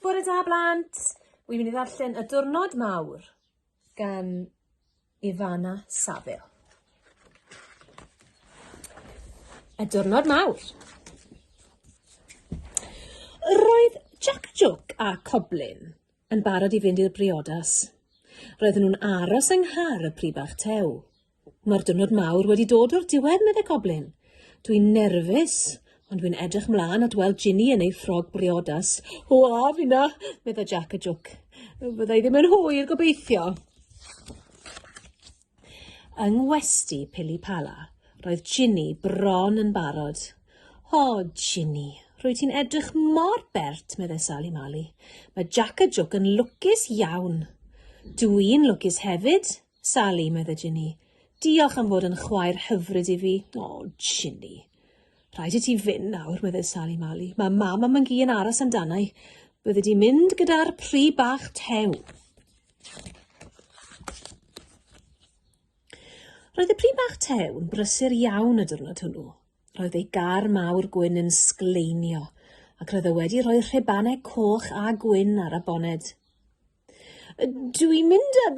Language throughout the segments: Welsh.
Bore da blant! Wi'n mynd i ddarllen y diwrnod mawr gan Ifana Saville. Y diwrnod mawr. Roedd Jack Joke a Coblin yn barod i fynd i'r briodas. Roedden nhw'n aros yng nghar y Pribach Tew. Mae'r diwrnod mawr wedi dod o'r diwedd, medde Coblyn. Dwi'n nerfus, ond dwi'n edrych mlaen at weld Ginny yn ei ffrog briodas. O, a finna, medde Jack a Jwc. Fydda i ddim yn hwyr, gobeithio. Yng ngwesti Pili Pala, roedd Ginny bron yn barod. O, Ginny, rwy ti'n edrych mor bert, medde Sali Mali. Mae Jack a Jwc yn lwcus iawn. Dw i'n lwcus hefyd, Sali, medde Ginny. Diolch am fod yn chwaer hyfryd i fi. O, Ginny. Rhaid i ti fynd nawr, medde Sali Mali. Mae mam a Mangi yn aros amdana i. Bydde di mynd gyda'r pri bach tew. Roedd y pri bach tew yn brysur iawn y diwrnod hwnnw. Roedd ei gar mawr gwyn yn sgleinio ac roedd e wedi rhoi rhebanau coch a gwyn ar y boned. Dwi'n mynd â,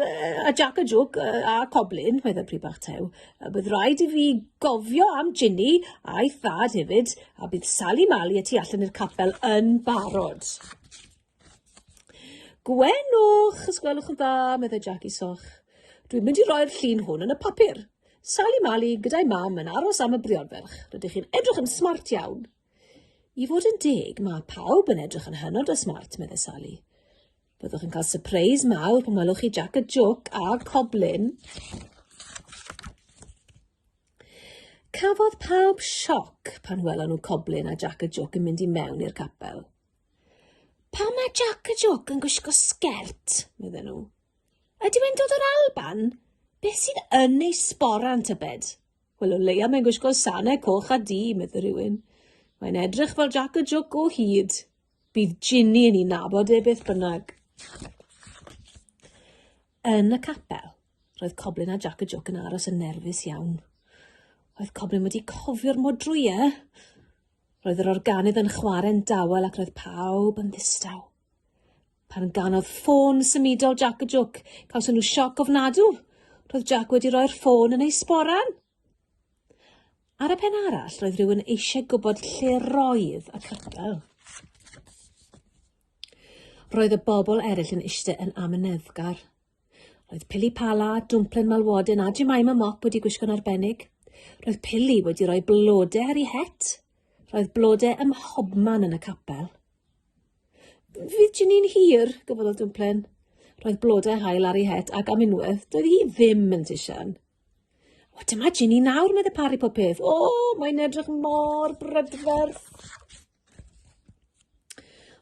â Jac a Jwc a Coblyn, meddai Pryd Bach Tew. Bydd rhaid i fi gofio am Ginny a'i thad hefyd, a bydd Sali Mali y tu allan i'r capel yn barod. Gwenwch, os gwelwch yn dda, meddai Jac i Soch. Dwi'n mynd i roi'r llun hwn yn y papur. Sali Mali gyda'i mam yn aros am y briodferch. Rydych chi'n edrych yn smart iawn. I fod yn deg, mae pawb yn edrych yn hynod o smart, meddai Sally. Byddwch yn cael sypreis mawr pan welwch chi Jac y Joc a Coblin. Cafodd pawb sioc pan welon nhw Coblin a Jac y Joc yn mynd i mewn i'r capel. Pa mae Jac y Joc yn gwisgo sgert, meddyn nhw. Ydy e'n dod o'r Alban? Beth sydd yn ei sboran, tybed? Wel, o leia mae'n gwisgo sanau coch a du, medde rhywun. Mae'n edrych fel Jack y Jwc o hyd. Bydd Ginny yn ei nabod e beth bynnag. Yn y capel, roedd Coblin a Jack y Jwc yn aros yn nerfus iawn. Roedd Coblin wedi cofio'r modrwy, e? Roedd yr organydd yn chwarae'n dawel ac roedd pawb yn ddistaw. Pan ganodd ffôn symudol Jac y Jwc, cawson nhw sioc ofnadw. Roedd Jac wedi rhoi'r ffôn yn ei sboran. Ar y pen arall, roedd rhywun eisiau gwybod lle roedd y capel. Roedd y bobl eraill yn eistedd yn amyneddgar. Roedd Pili Pala, Dwmplen Malwoden a Jemima Mop wedi gwisgo'n arbennig. Roedd Pili wedi rhoi blodau ar ei het. Roedd blodau ym mhobman yn y capel. Virgin yn hir, gyfodd y dwmplin. Roedd blodau hael ar ei het ac am unwaith, doedd hi ddim yn tisian. O, dyma Ginny nawr, meddai Pari pob peth. O, mae'n edrych mor brydferth.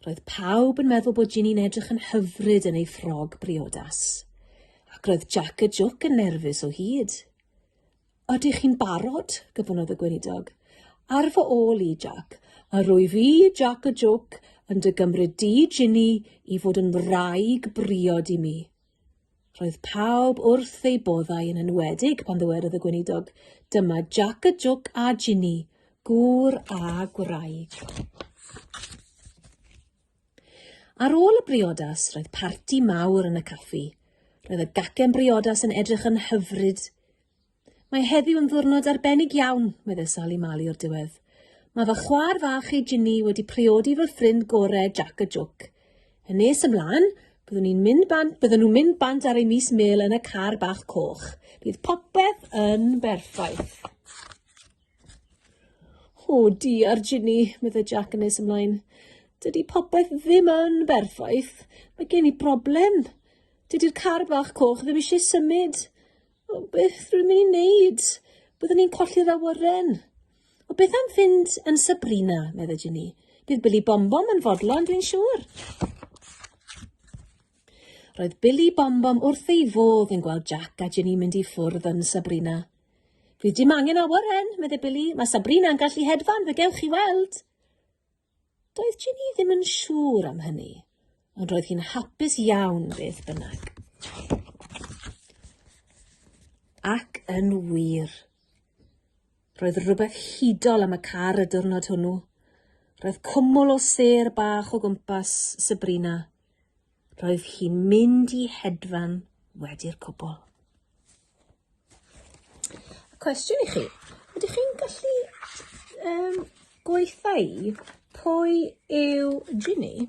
Roedd pawb yn meddwl bod Ginny'n edrych yn hyfryd yn ei ffrog briodas. Ac roedd Jack y Jwc yn nerfus o hyd. Ydych chi'n barod? gofynnodd y Gweinidog. Ar fy ôl i, Jac. A rwyf i, Jac y Jôc, yn dy gymryd di, Ginny, i fod yn wraig briod i mi. Roedd pawb wrth eu boddau yn enwedig pan ddywedodd y Gweinidog, Dyma Jac y Jôc a Ginny, gŵr a gwraig. Ar ôl y briodas, roedd parti mawr yn y caffi. Roedd y gacen briodas yn edrych yn hyfryd. Mae heddiw yn ddwrnod arbennig iawn, meddai Sali Mali o'r diwedd. Mae fy chwaer fach ei Ginny wedi priodi fy ffrind gore Jack y Jwc. Yn nes ymlaen, byddwn ni'n mynd bant, byddwn nhw'n mynd bant ar ei mis mil yn y car bach coch. Bydd popeth yn berffaith. O, diar Ginny, meddai Jac yn nes ymlaen. Dydy popeth ddim yn berffaith. Mae gen i broblem. Dydy'r car bach coch ddim eisiau symud. O, beth rwy'n mynd i wneud? Byddwn ni'n colli'r awyren. O, beth am fynd yn Sabrina, meddai Ginny. Bydd Billy Bombom yn fodlon, dwi'n siŵr. Roedd Billy Bombom wrth ei fodd yn gweld Jac a Ginny mynd i ffwrdd yn Sabrina. Dwi dim angen awyren, medde Billy. Mae Sabrina'n gallu hedfan, fe gewch chi weld. Doedd Ginny ddim yn siŵr am hynny, ond roedd hi'n hapus iawn beth bynnag. Ac yn wir, roedd rhywbeth hudol am y car y diwrnod hwnnw. Roedd cwmwl o ser bach o gwmpas Sabrina. roedd hi'n mynd i hedfan wedi'r cwbl. Cwestiwn i chi, ydych chi'n gallu um, gweithau pwy yw Ginny?